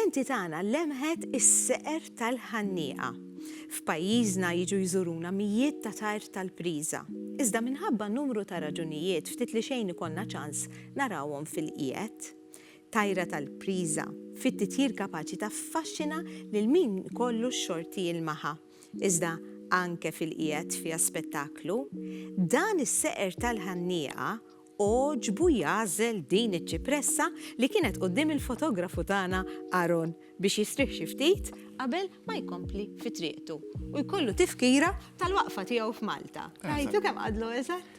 Il-lenti tagħna lemħet is-seqer tal-ħannieqa. F'pajjiżna jiġu jżuruna mijiet ta' tajr tal-priża. Iżda minħabba numru ta' raġunijiet ftit li xejn ikollna ċans narawhom fil-qiegħed. Tajra tal-priża, fit-titjir kapaċi taffaxxina lil min ikollu x-xorti jilmaħha. iżda anke fil-qiegħed fiha spettaklu, dan is-seqer tal-ħannieqa għoġbu jagħżel din iċ-ċipressa li kienet quddiem il-fotografu tagħna Aaron biex jistrieħ xi ftit qabel ma jkompli fi triqtu u jkollu tifkira tal-waqfa tiegħu f'Malta. Rajtu kemm qadlu eżatt?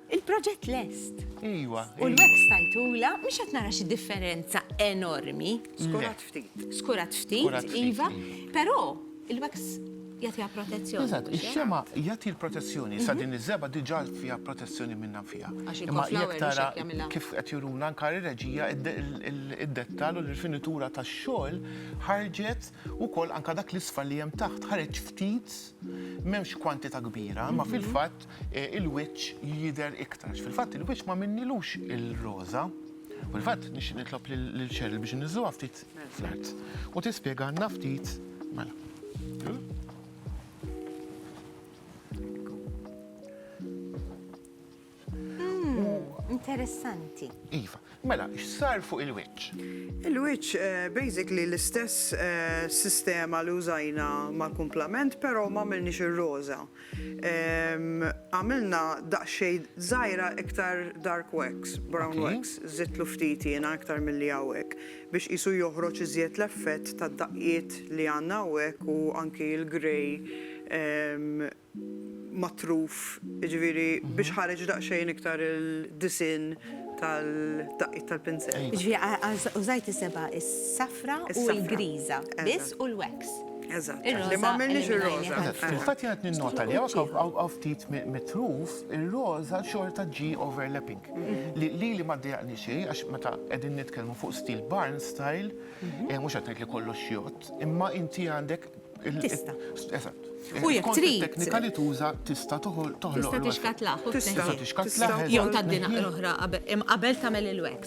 Il-proġett lest. Iwa. U l-web stajtula, mhux qed nara xi differenza enormi. Skurat ftit. Skurat ftit, iva. Però il-web jagħtiha protezzjoni. Eżatt, ix-xema jagħti l-protezzjoni. Sa din iż-żeba diġà fiha protezzjoni minnha fiha. Imma jekk tara kif qed juruna anke ir-reġija id-dettall u l-rifinitura tax-xogħol ħarġet ukoll anke dak l-isfar li hemm taħt ħareġ ftit m'hemmx kwantità kbira, imma fil-fatt il-wiċċ jidher iktarx. Fil-fatt il-wiċċ ma minnilux il-roża. Fil-fatt nixtieq nitlob lil Cheryl biex niżżuha ftit fl-art u tispjega għandna ftit mela. interessanti. Iva, mela, x'sar fuq il-wiċċ? Il-wiċċ eh, basically l-istess eh, sistema li użajna mal-kumplament, però ma għamilniex ir-roża. Għamilna daqsxejn żgħira iktar dark wax, brown wax, żidtlu ftit jiena iktar milli hawnhekk biex qisu joħroġ iżjed l-effett tad-daqqiet li għandna hawnhekk u anki l-grey matruf, jiġifieri biex ħareġ daqsxejn iktar il-disinn tal-daqqiet tal-pinsett. Jiġifieri użajt is-seba', is-safra u l-griża biss u l-wax. Eżatt, li ma għamilniex ir-roża. Fil-fatt jgħat ninnota li għaw ftit mitruf, ir-roża xorta ġi overlapping. Li li ma d-dijaqni xej, għax meta għedin nitkelmu fuq stil barn style, mux għatnajt li kollox jott, imma inti għandek. Tista. Eżatt. U jek trid. Teknika li tuża tista toħloq. Tista tixkatlaħ. Tista tixkatlaħ. Jew taddina l-oħra qabel tagħmel il-wax.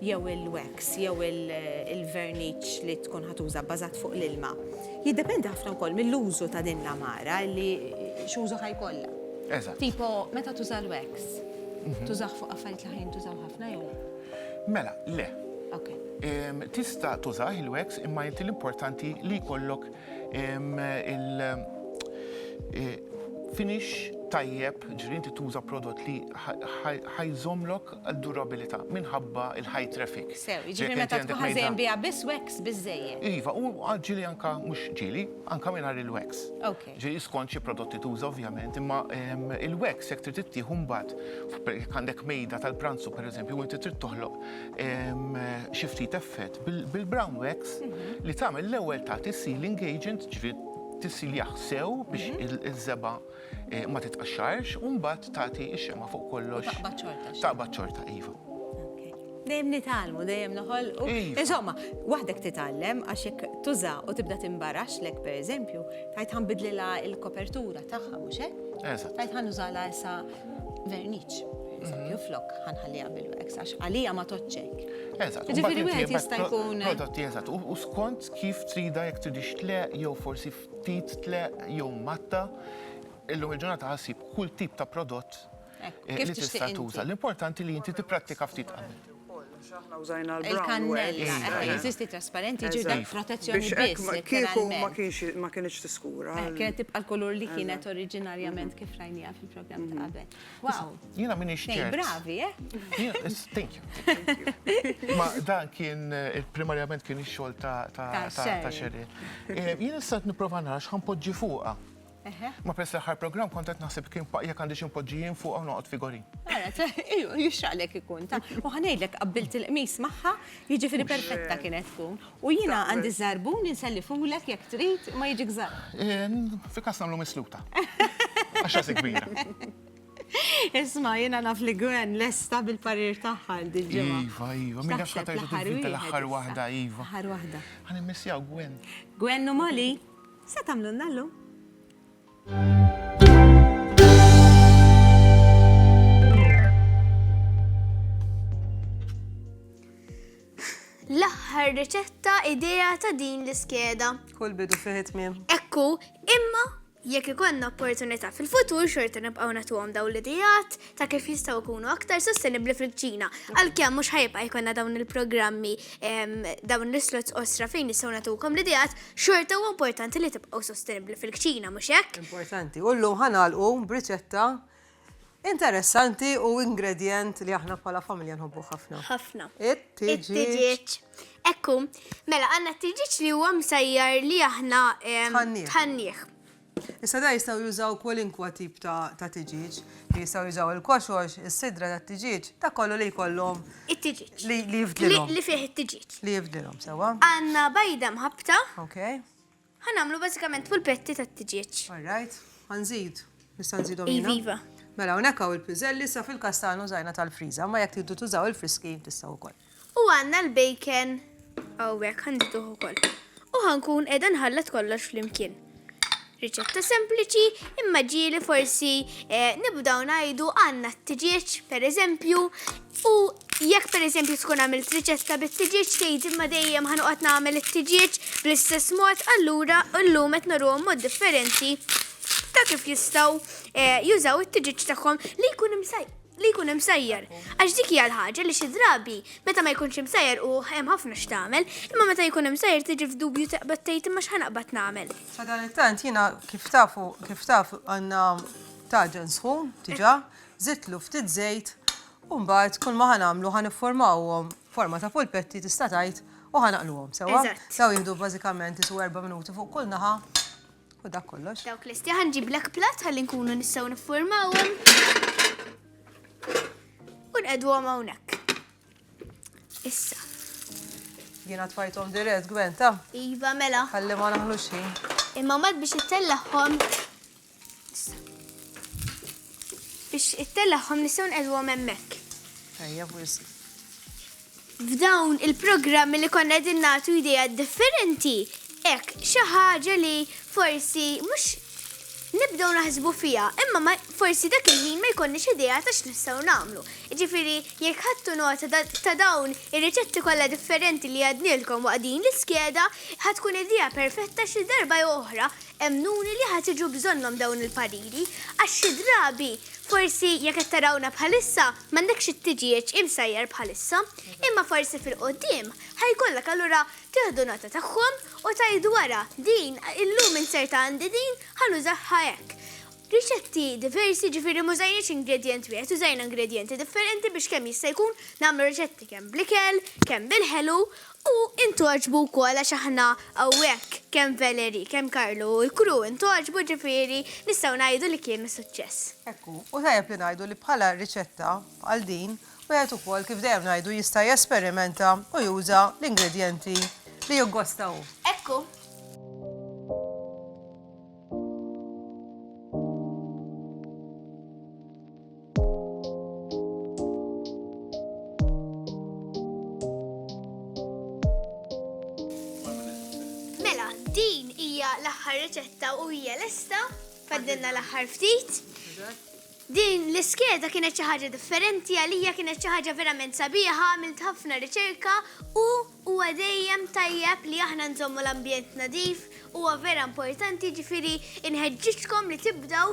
jew il-wax jew il-verniċ li tkun ħa tuża bbażat fuq l-ilma. Jiddependi ħafna wkoll mill-użu ta' din l-għamara li x'użu ħa jkollha. Eżatt. Tipo meta tuża l-wax, tużah fuq affarijiet li ħa jintużaw ħafna jew le? Mela, le. Ok. Tista' tużah il-wax imma inti l-importanti li jkollok il-finish tajjeb, ġifieri inti tuża prodott li ħa jżommlok għad-durabilità minħabba l-high traffic. Sew, jiġifieri meta tkun ħażejn biha biss wax biżżejjed. Iva, u ġieli anke, mhux ġieli, anke mingħajr il-wax. Ok. Ġieli skont xi prodotti tuża ovvjament, imma il-wax jekk trid ittieħu mbagħad jekk għandek mejda tal-pranzu pereżempju u inti trid toħloq xi ftit effett bil-brown wax li tagħmel l-ewwel tagħti sealing agent, ġifieri tissiljaħ sew biex iż-żebgħa. eh, ma titqaxxarx u mbagħad tagħti x-xema fuq kollox. Taqbad ċorta. Taqbad ċorta, iva. Dejjem nitgħallmu, dejjem noħol. Iva. Insomma, waħdek titgħallem għax jekk tuża u tibda timbarax lek pereżempju, tajt ħanbidlilha il-kopertura tagħha mhux hekk? Eżatt. Tajt ħanużala issa verniċ. Eżempju, mhm. flok ħanħalliha bil-wax, għax għalija ma toċċek. Eżatt, ġifiri wieħed jista' jkun. Prodotti eżatt, u skont kif trida jekk tridix tleq jew forsi ftit tleq jew matta, illum il-ġurnata ħa ssib kull tip ta' prodott li tista' tuża. L-importanti li inti tipprattika ftit qabel. Il-kannella, jeżisti trasparenti, jiġifieri dak protezzjoni biss. Kieku ma kinitx tiskura. Kienet tibqa' l-kulur li kienet oriġinarjament kif rajniha fil-programm ta' qabel. Wow. Jina minni xċert. Bravi, eh? Thank you. Ma dan kien, eh, primarjament kien ix-xogħol ta' xerri. Eh, jien issa nipprova nara x'ħan poġġi fuqha. Ma pres l-aħħar programm kont qed naħseb kien paqja għandi xi mpoġġi jien fuq u noqgħod figuri. Jixraqlek ikun ta' u ħanejdlek qabbilt il-qmis magħha, jiġifieri perfetta kienet tkun. U jiena għandi ż-żarbun li nsellifulek jekk trid, imma jiġik żgħar. Fi każ nagħmlu misluta. Għax rasi kbira. Isma' jiena naf li Gwen lesta bil-parir tagħha għal dil-ġimgħa. Iva, iva, min jaf x'ħa terġa' tivvinta l-aħħar waħda, iva. L-aħħar waħda. Ħa nimmissjaw Gwen. Gwen u Molly, x'se tagħmlulna llum? L-aħħar riċetta idea ta' din l-iskeda. Kull bidu fih it-tmiem. Hekk hu, imma jekk ikollna opportunità fil-futur xorta nibqgħu nagħtuhom dawn l-ideat ta' kif jistgħu jkunu aktar sostenibbli fil-kċina. Għalkemm mhux ħajibqa' jkollna dawn il-programmi ehm, dawn l-islots osra fejn nistgħu nagħtukom l-ideat, xorta huwa importanti li tibqgħu sostenibbli fil-kċina, mhux hekk? Importanti. U llum ħanalqu b'riċetta Interessanti u ingredjent li aħna bħala familja nħobbuh ħafna. Ħafna. It-tiġiġ. It-tiġiġ. Ekku, mela għanna t-tiġiġ li huwa msajjar li aħna tħanniħ. Issa da jistaw jużaw kwalinkwa tip ta' tiġiġ, jistaw jużaw il-koxox, is-sidra ta' tiġiġ, ta' kollu li jkollhom. It-tiġiġ. Li jifdilhom. Li fih it-tiġiġ. Li jifdilhom, sewa. Għanna bajda mħabta. Okay. Ħa nagħmlu bażikament pulpetti tat-tiġieġ. All right, ħa nżid. Nista' nżidhom jiena? Iviva. Mela hawnhekk hawn il-piżelli issa fil-każ tagħna użajna tal-friża, imma jekk tridu tużaw il-friski tistgħu wkoll. U għandna l-bacon hawnhekk ħa nżiduh ukoll. U ħa nkun qiegħda nħallat kollox flimkien. Riċetta sempliċi, imma ġieli forsi eh, nibdaw ngħidu għandna t-tiġieġ, pereżempju, U jekk pereżempju tkun għamilt riċetta bit-tiġieġ tgħid imma dejjem ħanoqgħod nagħmel it-tiġieġ bl-istess mod allura llum qed nurruhom mod differenti ta' kif jistgħu eh, jużaw it-tiġieġ tagħhom li jkun imsajjar li jkun imsajjar. Għax dik hija l-ħaġa li xi drabi meta ma jkunx imsajjar u hemm ħafna x'tagħmel, imma meta jkun imsajjar tiġi f'dubju taqbad tgħid imma x'ħanaqbad nagħmel. Sadanittant jiena kif tafu kif taf għandna taġen sħun diġà Żidtlu ftit żejt u mbagħad kull ma ħa nagħmlu ħa nifformawhom forma ta' polpetti tista' tgħid u ħa naqluhom sewwa. Daw jieħdu bażikament isu erba' minuti fuq kull naħa u dak kollox. Dawk lesti ħa nġib l plat ħalli nkunu nistgħu nifformawhom. U nqedwhom hawnhekk. Issa. Jiena tfajthom dirett gwenta. Iva mela. Ħalli ma naħlux ħin. Imma mat biex ittellagħhom Biex ittellaħħom nistgħu nqegħduhom hemmhekk. Ejja wisq. F'dawn il-programmi li konna qegħdin nagħtu idea differenti, hekk xi ħaġa li forsi mhux nibdew naħsbu fija, imma forsi dak il-ħin ma jkollniex idea ta' x'nistgħu nagħmlu. Ġifieri jekk ħadtu nota ta' dawn ir-riċetti kollha differenti li għadnilkom waqt din l-iskeda, ħad tkun idea perfetta xi darba oħra Emmnuni li ħa tiġu bżonnhom dawn il-pariri għax xi drabi forsi jekk qed tarawna bħalissa m'għandekx it-tiġieġ imsajjar bħalissa, imma forsi fil-quddiem ħa jkollok allura tieħdu nota tagħhom u tgħidu ara din illum inserta għandi din ħa nużaha hekk. Riċetti diversi jiġifieri m'użajniex ingredjent wieħed użajna ingredjenti differenti biex kemm jista' jkun nagħmlu riċetti kemm bl-ikel, kemm bil-ħelu U intgħoġbu wkoll għax aħna hawnhekk kemm Valerie, kemm Carlo u l-crew intgħoġbu ġifieri nistgħu ngħidu li kien suċċess. Hekk hu. U tajjeb li ngħidu li bħala riċetta bħal din wieħed ukoll kif dejjem ngħidu jista' jesperimenta u juża l-ingredjenti li jiggosta hu. Hekk hu. l-aħħar riċetta u hija lesta, faddilna l-aħħar ftit. Din l-iskeda kienet xi ħaġa differenti għalija kienet xi ħaġa verament sabiħa għamilt ħafna riċerka u huwa dejjem tajjeb li aħna nżommu l-ambjent nadif huwa vera importanti ġifieri inħeġġiġkom li tibdew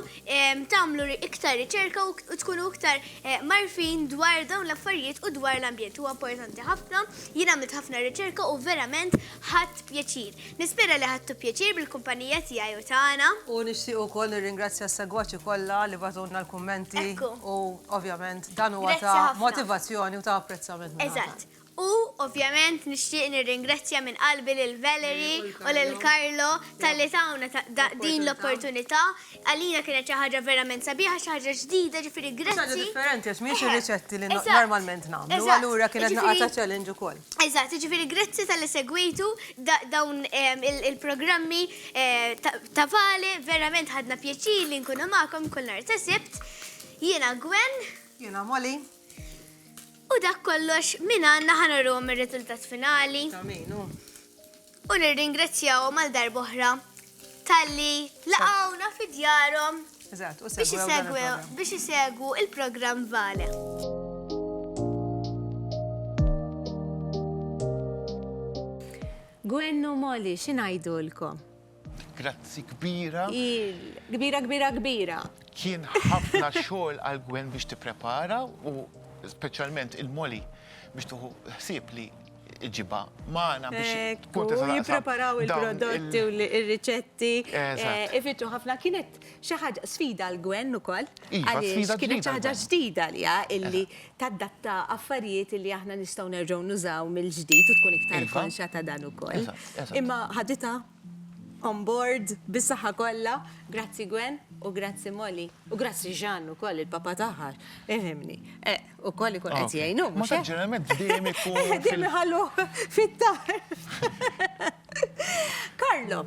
tagħmlu iktar riċerka u tkunu iktar mgħarrfin dwar dawn l-affarijiet u dwar l-ambjent huwa importanti ħafna jien għamilt ħafna riċerka u verament Ħadt pjaċir. Nispera li ħadtu pjaċir bil-kumpanija tiegħi u tagħna. U nixtieq ukoll nirringrazzja s-segwaċi kollha li bagħtulna l-kummenti. U ovvjament dan huwa ta' motivazzjoni u ta' apprezzament. Eżatt. U ovvjament nixtieq nirringrazzja minn qalbi lil Valerie u lil Carlo talli tawna din l-opportunità Għalina kienet xi ħaġa verament sabiħa, xi ħaġa ġdida, ġifieri grazzi. Xi ħaġa differenti għax mhijiex ir-riċetti li normalment nagħmlu, allura kienet naqa' ta' challenge ukoll. Eżatt, jiġifieri grazzi talli segwejtu dawn il-programmi ta' Vale, verament ħadna pjaċir li nkunu magħkom kull nhar ta' Sibt. Jiena Gwen. Jiena Molly. U dak kollox minn għandna ħa nuruhom ir-riżultat finali. Ta' min hu? u nirringrazzjahom għal darba oħra talli laqgħuna fi djarhom biex isegwu l-programm Vale. Gwen u Molly, xi ngħidulkom? Grazzi kbira. Kbira, kbira, kbira. Kien ħafna xogħol għal Gwen biex tipprepara u speċjalment il-Molly biex tuħu ħsieb li iġibha magħna biex tkun tista' jippreparaw il-prodotti u l-riċetti. Eh, Ifittu ħafna kienet xi ħaġa sfida l-gwen ukoll. Iva, għaliex kienet xi ħaġa ġdida li illi tadatta affarijiet li aħna nistgħu nerġgħu nużaw mill-ġdid u tkun iktar iva. konxa ta' dan ukoll. Imma ħadita On board, bis-saħħa kollha. Grazzi Gwen, u grazzi Molly, u grazzi Jean ukoll, il-papa tagħha, ifhimni. Ukoll ikun qed jgħinu, mhux hekk? Ma ġeneralment ħdiem ikun. Ħdiem iħalluh fit-tar. Carlo.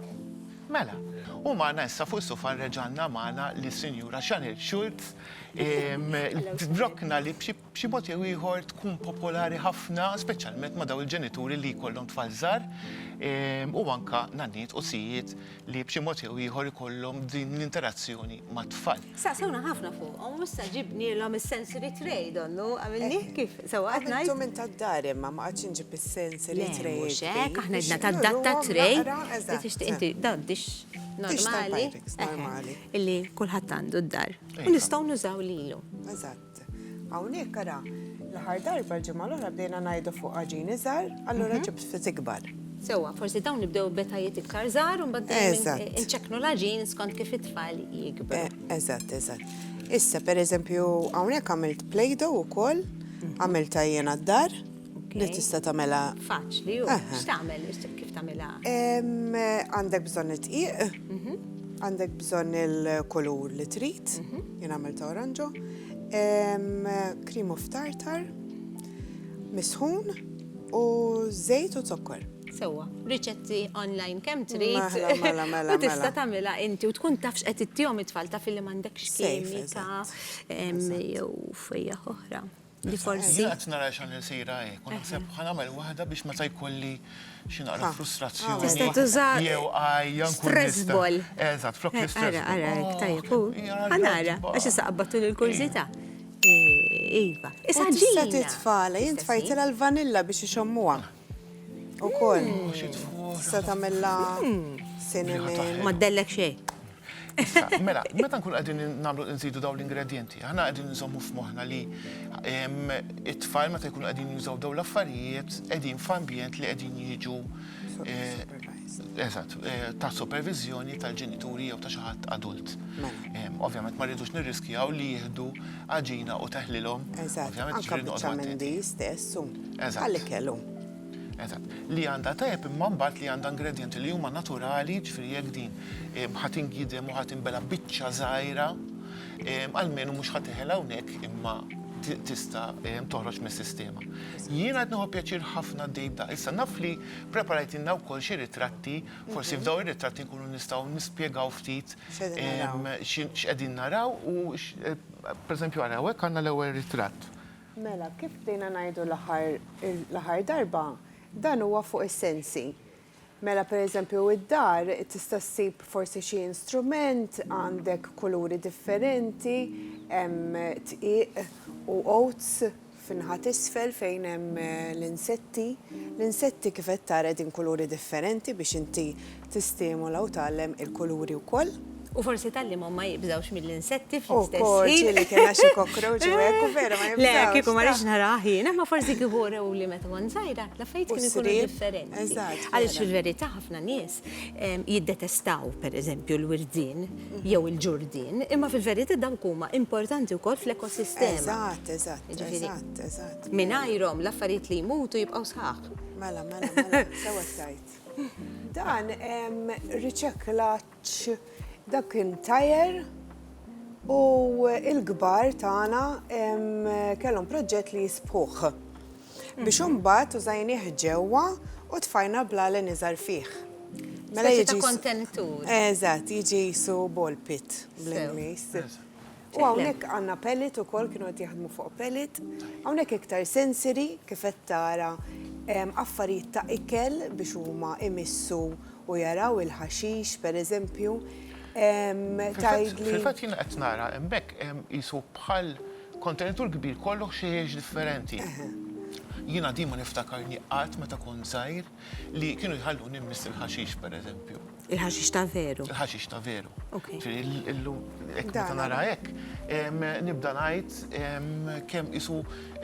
Mela, u magħna issa fuq is-sofa reġgħalna magħna lis-Sinjura Chanel Schultz, drokna li b'xi b'xi mod jew ieħor tkun popolari ħafna, speċjalment ma' dawn il-ġenituri li jkollhom tfal żgħar, u anke nanniet u sijiet li b'xi mod jew ieħor ikollhom din l-interazzjoni mat-tfal. Staqsewna ħafna fuqhom u issa ġibnielhom is-sensory tray, donnu għamilnieh kif sewwa qed ngħid. Għamiltu minn tad-dar imma, ma qgħadtx inġib is-sensory tray. Le, mhux hekk, aħna għedna tad-data tray li tixtieq inti, dawn dish normali, eħe, illi kulħadd għandu d-dar u nistgħu nużaw lilhom. Eżatt. Hawnhekk ara, l-aħħar darba l-ġimgħa l-oħra bdejna ngħidu fuq għaġin iżgħar, allura ġibt ftit ikbar. Sewwa, forsi dawn nibdew b'etajiet iktar żgħar u mbagħad inċekknu l-għaġin skont kif it-tfal jikbru. Eżatt, eżatt. Issa, pereżempju, hawnhekk għamilt play-doh ukoll, għamiltha jiena d-dar, Li tista' tagħmilha. Faċli, u x'tagħmel, kif tagħmilha? Għandek bżonn id-dqiq, mhm. għandek bżonn il-kulur li trid, mhm. jien għamilt oranġo, cream of tartar, misħun u żejt u zokkor. Sewa, riċetti online kemm trid. Mela, mela, mela. U tista' mela. tagħmilha inti u tkun tafx qed ittihom it-tfal taf li m'għandekx kimika jew fejja oħra. Li forsi. Jien qed nara xan il-sejra hi, kun naħseb ħa nagħmel waħda biex meta jkolli xi naqra frustrazzjoni. Tista' tuża. Jew għajja nkun. Stress ball. Eżatt, flok l-istress. Ara, ara, tajjeb. Ħa nara, għax issa qabbattu l-kurżità. Iva. Issa ġieli. Tista' titfala, jien tfajtilha l-vanilla biex ixommuha. Ukoll. Tista' tagħmilha cinnamon. Ma ddellek xejn. Mela, meta nkun qegħdin nagħmlu nżidu dawn l-ingredjenti, aħna qegħdin nżommu f'moħħna li it-tfal meta jkunu qegħdin jużaw dawn l-affarijiet qegħdin f'ambjent li qegħdin jiġu eżatt ta' superviżjoni tal-ġenituri jew ta' xi ħadd adult. Ovvjament ma rridux nirriskjaw li jieħdu għaġina u teħlilhom. Eżatt, anke biċċa minn di stess u għall-ikel u. Eżatt. Li għandha tajjeb imma mbagħad li għandha ingredjenti li huma naturali, ġifieri jekk din ħadd ingidem u ħadd inbela' biċċa żgħira, almenu mhux ħa teħel hawnhekk imma tista' toħroġ mis-sistema. Jiena qed nieħu pjaċir ħafna għaddej b'da. Issa naf li preparajtilna wkoll xi ritratti Forsi mhm. f'daw ir-ritratti nkunu nistgħu nispjegaw ftit x'qegħdin naraw u eh, pereżempju għara hekk għandna l-ewwel ritratt. Mela, kif bdejna ngħidu l-aħħar darba, dan huwa fuq is-sensi. Mela, per eżempju, id-dar tista' ssib forsi xi instrument, għandek kuluri differenti, hemm tqiq u oats fin-naħa t'isfel fejn hemm l-insetti. L-insetti kif qed tara qegħdin kuluri differenti biex inti tistimola u tgħallem il-kuluri wkoll. U forsi tgħallimhom ma jibżgħux mill-insetti fl-istess ħin. Ukoll, ġieli kien għax il-cockroach u hekk u vera ma jibżgħux. Le, kieku ma rridx narah jien, imma forsi kieku urewli meta kont żgħira, l-affarijiet kienu jkunu differenti. Għaliex fil-verità ħafna nies jiddetestaw, pereżempju, l-wirdien. jew il-ġurdien, imma fil-verita dawk huma importanti wkoll fl-ekosistema. Eżatt, eżatt, eżatt, eżatt. Mingħajrhom l-affarijiet li jmutu jibqgħu sħaħ. Mela, mela, mela, sewwa tajt. Dan riċeklaċ dak kien tajer u l-kbar tagħna kellhom proġett li jisbħuh. biex imbagħad użajnieh ġewwa u tfajna bl-għalen iżgħar fih. Mela jiġi ta' kontenitur. Eżatt, jiġi jisu ball pit bl-Ingliż. U hawnhekk għandna pellet ukoll kienu qed jaħdmu fuq pellet. Hawnhekk iktar sensory kif qed tara affarijiet ta' ikel biex huma imissu u jaraw il-ħaxix, pereżempju, tgħidli. Fil-fatt jiena qed nara hemmhekk qisu bħal kontenitur kbir kollu ħxejjex differenti. Jiena din ma niftakarni qatt meta kont żgħir li kienu jħalluni mmiss il-ħaxix, pereżempju. Il-ħaxix ta' veru? Il-ħaxix ta' veru. Illum hekk meta nara hekk, nibda ngħid kemm qisu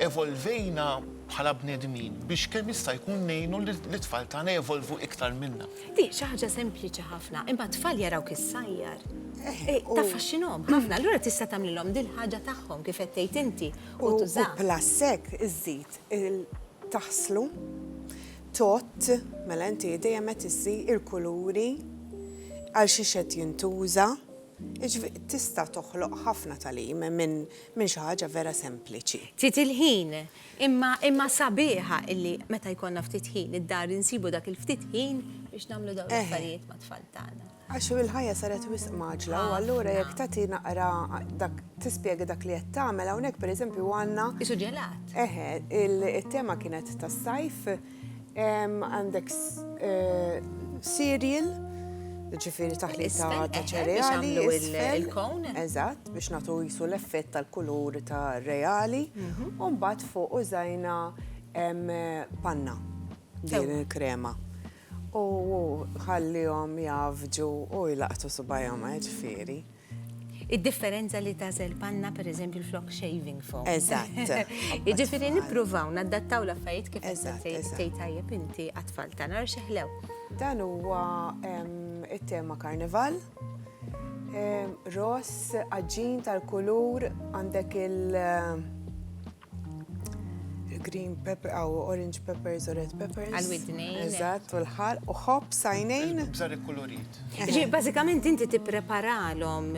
evolvejna bħala bnedmin biex kemm jista' jkun ngħinu lit-tfal tagħna jevolvu iktar minna. Di xi ħaġa sempliċi ħafna, imma t-tfal jarawk issajjar. Taffaxxinhom ħafna, allura tista' tagħmlilhom dil-ħaġa tagħhom kif qed tgħid inti u tużaha. U plus hekk iżżid taħslu, tott, mela inti dejjem qed issi il-kuluri, għal xiex qed jintuża, jiġifieri tista' toħloq ħafna tagħlim minn Minn xi ħaġa vera sempliċi. Ftit il-ħin, imma imma sabiħa illi meta jkollna ftit ħin id-dar insibu dak il-ftit ħin biex nagħmlu dawn l-affarijiet mat-tfal tagħna. Għax il-ħajja saret wisq mgħaġġla u allura jekk tagħti naqra dak tispjega dak li qed tagħmel hawnhekk pereżempju għandna. Qisu ġelat. Eħe, it-tema kienet tas-sajf. Għandek cereal, ġifiri taħlita ta' eh, ċereali. Il-kon. Eżatt, biex natu jisu l-effett tal-kulur ta' reali. Mhm. Umbat fuq użajna panna din il-krema. U ħallihom javġu u jlaqtu subajhom eh, ġifiri. Id-differenza li tażel panna pereżempju flok shaving foam. Eżatt. Jiġifieri nippruvaw naddattaw l-affarijiet kif tgħid tajjeb inti għat-tfal tagħna għax iħlew. Dan huwa it-tema karnival. Ross, aġġin tal-kulur, għandek il- green pepper, għaw orange peppers u red peppers. Għal-widnejn. Eżatt, u l-ħar, u ħob, sajnejn. Bżar il-kolorit. Ġi, bazzikament inti tippreparalhom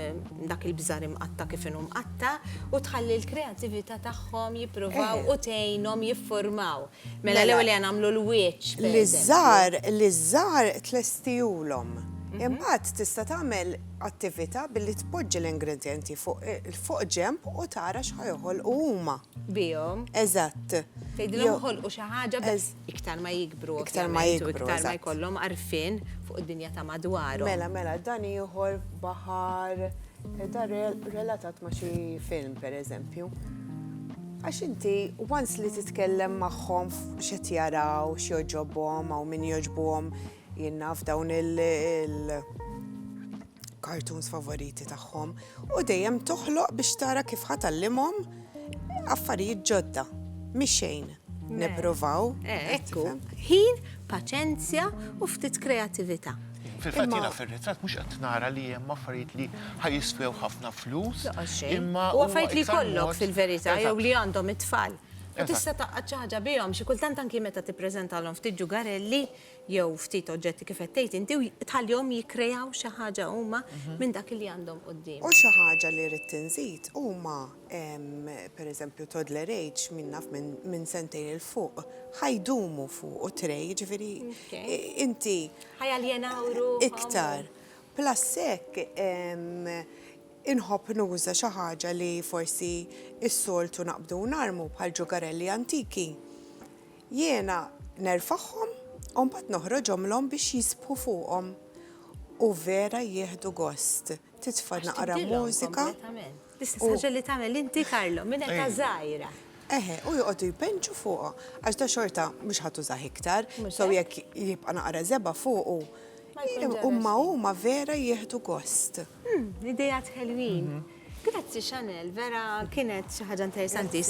dak il-bżar imqatta kif inhu mqatta u tħalli l-kreativita tagħhom jippruvaw eh. u tgħinhom jiffurmaw. Mela l-ewwel mela. nagħmlu l-wieċ. L-iżżar, l-iżżar tlestijulhom. Mhm. Imbagħad tista' tagħmel attività billi tpoġġi l-ingredjenti fuq ġenb u tara x'ħa joħolqu huma. Bihom. Eżatt. Tgħidilhom joħolqu xi ħaġa biss iktar ma jikbru. Iktar ma jikbru. Iktar ma jkollhom għarfien fuq id-dinja ta' madwarhom. Mela, mela, dan ieħor baħar da relatat ma' xi film pereżempju. Għax inti, once li titkellem magħhom x'qed jaraw, x'joġobhom, hawn min joġbuhom Jien naf dawn il-cartoons favoriti tagħhom u dejjem toħloq biex tara kif ħa tallimhom affarijiet ġodda. Mhix xejn. Nippruvaw. Eh, ekku, ħin, paċenzja u ftit kreatività. Fil-fatt jiena fir-ritratt mhux qed nara li hemm affarijiet li ħajiswew ħafna flus. Imma u affarijiet li jkollok fil-verità jew li għandhom it-tfal. U tista' taqgħad xi ħaġa bihom, xi kultant anki meta tippreżentalhom ftit ġugarelli. jew ftit oġġetti kif qed tgħid inti, u tħallihom jikkreaw xi ħaġa huma minn dak li għandhom quddiemhom. U xi ħaġa li ridt inżid huma pereżempju toddler age min naf minn sentejn 'il fuq ħa jdumu fuqu tray jiġifieri inti ħa jaljenaw ruħhom iktar. Plus hekk inħobb nuża xi ħaġa li forsi s-soltu naqbdu u narmu bħal ġugarelli antiki Jiena nerfagħhom u mbagħad noħroġhomlhom biex jisbħu fuqhom u vera jieħdu gost. Titfa' naqra mużika u. L-istess ħaġa li tagħmel inti Carlo minn età żgħira. Eħe, u joqogħdu jbenġu fuqha għax da xorta mhux ħa tużah iktar, so jekk jibqa' naqra żebgħa fuqu, imma huma vera jieħdu gost. Ideat ħelwin. Grazzi Chanel, vera kienet xi ħaġa interessanti.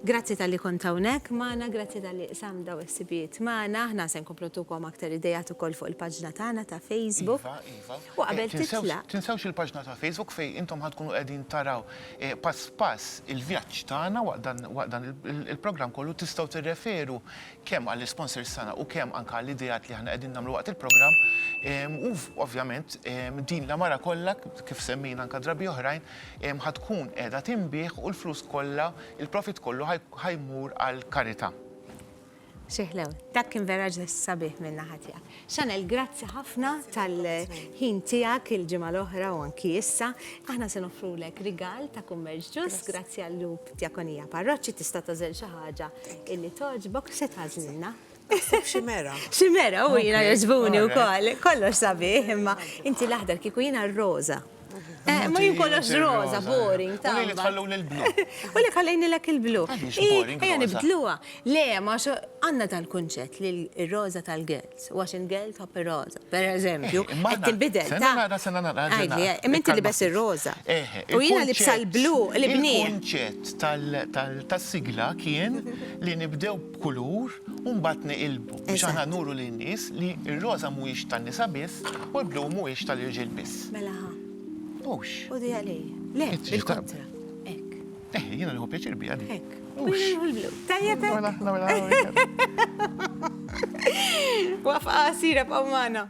Grazzi tal-li kont hawnhekk magħna, grazzi tal-li sam daw is-sibijiet magħna. Aħna se nkomplu tukom aktar idejat ukoll fuq il-paġna tagħna ta' Facebook. Iva, iva. U qabel eh, titla'. Tinsewx il-paġna ta' Facebook fejn intom ħadkunu qegħdin taraw eh, pass pass il-vjaġġ tagħna waqt dan il-programm kollu tistgħu tirreferu kemm għall-isponsors tagħna u kemm anke għall-ideat li aħna qegħdin nagħmlu waqt il-programm. U ovvjament din l-għamara kollha, kif semmejna anke drabi oħrajn, ħa tkun qiegħda tinbiegħ u l-flus kollha, il-profit kollu ħa jmur għall-karità. Xi ħlew. Dak kien vera ġest sabiħ min-naħa tiegħek. Chanel, grazzi ħafna tal-ħin tiegħek il-ġimgħa l-oħra u anki issa. Aħna se noffrulek rigal ta' kummerċ ġust grazzi għall-lub Djakonija Parroċċi tista' tażel xi ħaġa illi togħġbok x'se tagħżlilna? Ximera. Ximera u jiena jogħġbuni wkoll. Kollox sabiħ imma inti l-aħdar kieku jiena r-roża. Eh, ma jien kollox roza, boring, ta' li tħalluni l-blu. U li ħallejni lek il-blu. Ejja nibdluha. Le, ma għandna tal-kunċett li r-roza tal-girls, u għax il-girl tħobb ir-roza, per eżempju, eh, qed tinbidel. Sena nara, sena nara. Għajli, eh, minti li bes ir-roza. Eh, u jiena li bsa l-blu, li bni. Il-kunċett tas-sigla kien li nibdew b'kulur u mbagħad niqilbu biex aħna nuru lin-nies li r-roża mhuwiex tan-nisa biss u l-blu mhuwiex tal-irġiel biss. Mela ħa. Hux. Ħudi għalij. Le, bil-kontra. Hekk. Eh, jiena nieħu pjaċir biha din. Hekk. Hux. Tajjeb hekk. Mela, mela, mela. Waqfa qasira b'qgħu magħna.